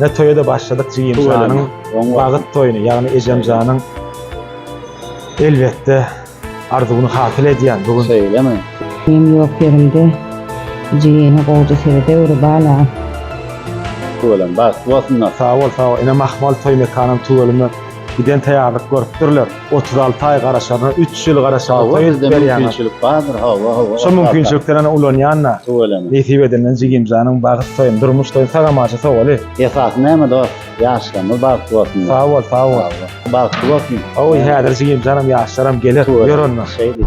Ne toýa-da başladyk jigimjanyň bagyt toýuny, ýagny ejemjanyň elbetde arzuwyny hasyl edýän bu gün. Şeýlemi? Inim ýok ýerimde, jigimi gowja serede öri bala. Tüweleme bagtly bolsunlar. Sag bol, sag bol. Ine Mahmal toý mekanyň tüweleme giden taýýarlyk görüpdirler. otuz alty aý garaşaryna, üç ýyl garaşaryna toý edip berýäňiz. Mümkinçilik bardyr, hawa, hawa. Şo mümkinçilikden ýene ulanýan-da. Tüweleme. Nesip edenden jigimjanyň bagyt toýuny, durmuş toýuny sag amaja sowaly. Esasy näme dost, ýaşlarymyz bagtly bolsun. Sag bol, sag bol. Bagtly bolsun. Hawa, häzir jigimjanam, ýaşlaram geler, ýör onda. Şeýdip.